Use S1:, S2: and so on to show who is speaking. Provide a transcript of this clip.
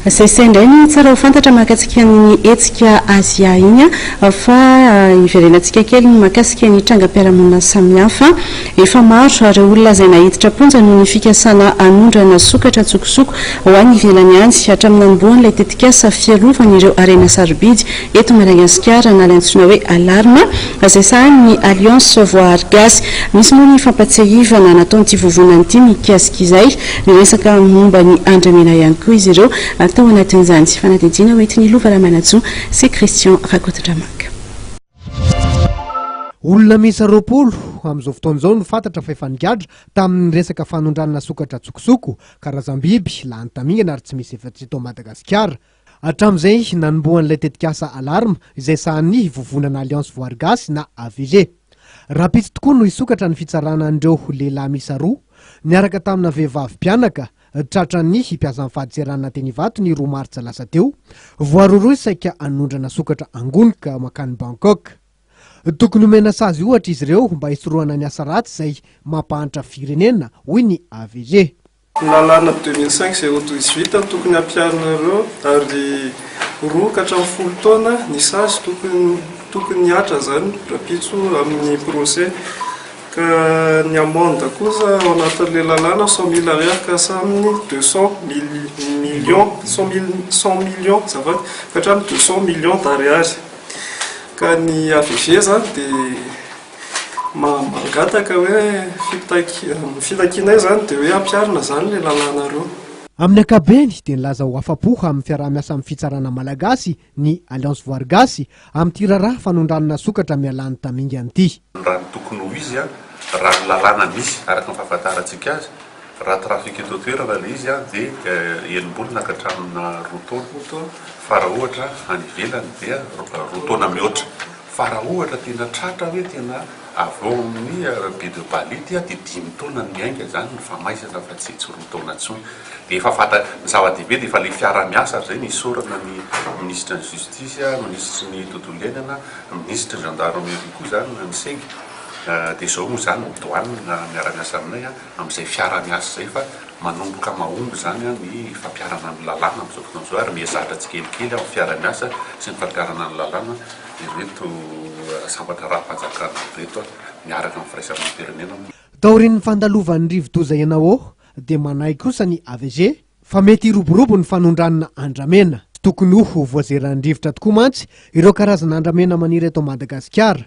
S1: Zay sendra iny tsara ho fantatra mahakasika an'iny hetsika Asia iny fa hiverenantsika kely ny mahakasika ny trangam-piarahamonina samihafa. Efa maro ireo olona izay naiditra am-ponja noho ny fikasana hanondrana sokatra an-tsokosoko ho any ivelany any. Hatramin'ny nanombohan'ilay tetikasa fiarovana ireo harena sarobidy eto Madagasikara na ilay antsoina hoe Alarme izay sahanin'ny Alliance Voahary Gasy. Misy moa ny fampatsiahivana nataon'ity vovonana ity mikasika izay. Niresaka momba ny andramena ihany koa izy ireo tao anatin'izany fanadihadiana hoentin'i Lova Ramanantsoa sy Christian Rakotondramanga.
S2: Olona miisa roapolo amin'izao fotoana izao no fantatra fa efa nigadra tamin'ny resaka fanondranana sokatra an-tsokosoko, karazam-biby lany tamingana ary tsy misy efa-tsy eto Madagasikara. Hatramin'izay nanombohan'ilay tetikasa Alarm izay sahanin'ny vovonana Alliance Voary Gasy na AVG. Rahampitso tokoa no hisokatra ny fitsarana an'ireo lehilahy miisa roa niaraka tamina vehivavy mpianaka tratran'ny mpiasan'ny fadintseranana teny Ivato ny roa martsa lasa teo. Voaroroy saika hanondrana sokatra angonika mankany Bangkok. Tokony homena sazy ohatra izy ireo mba hisorohana ny asa ratsy izay mampahantra firenena, hoy ny AVG. Lalàna deux
S3: mille cinq zéro douze vita no tokony hampiharinareo ary roa ka hatramin'ny folo taona ny sazy tokony tokony hihatra izany rahampitso amin'ny procès ka ny amende kosa ao anatin'ilay lalàna cent mille ariary ka hasaminy deux cent mille millions cent mille cent millions azafady ka hatramin'ny deux cent millions d'ariary ka ny avg izany dia Mangataka hoe ny fitakianay izany dia hoe ampiharina izany ilay lalàna roa. Amin'ny ankapobeny
S2: dia nilaza ho afa-po amin'ny fiaraha-miasa amin'ny fitsarana malagasy ny Alliance Voary Gasy amin'ity raharaha fanondranana sokatra mialany tamingana ity. Raha ny tokony ho
S4: izy, raha ny lalàna misy araka ny fahafantarantsika azy, Raha trafic eto an-toerana ilay izy dia enim-bolana ka hatramina roa taona, fa raha ohatra any ivelany dia roa taona mihoatra. Fa raha ohatra tena tratra hoe tena avy ao amin'ny baie de Bali dia dimy taona no miainga izany ny famaizana fa tsy tsy roa taona intsony. Dia efa fantatra, ny zava-dehibe dia efa ilay fiaraha-miasa ry zay, isaorana ny minisitry ny justice, minisitry ny tontolo iainana, minisitry ny gendarmerie koa izany, ny seg, dia izao moa izany ny douane miara-miasa aminay, amin'izay fiara miasa izay fa manomboka mahomby izany ny fampiharana ny lalàna amin'izao fotoana izao ary mihazatra tsikelikely amin'ny fiara miasa sy ny fampiharana ny lalàna ireto sambatra ara-panjakana ireto miaraka amin'ny firaisamonim-pirenena. Taorian'ny
S2: fandalovan'ny rivodoza Enawo dia manahy kosa ny AVG fa mety hiroborobo ny fanondranana andramena. Tokony ho voazeran'ny rivotra tokoa mantsy ireo karazana andramena maniry eto Madagasikara.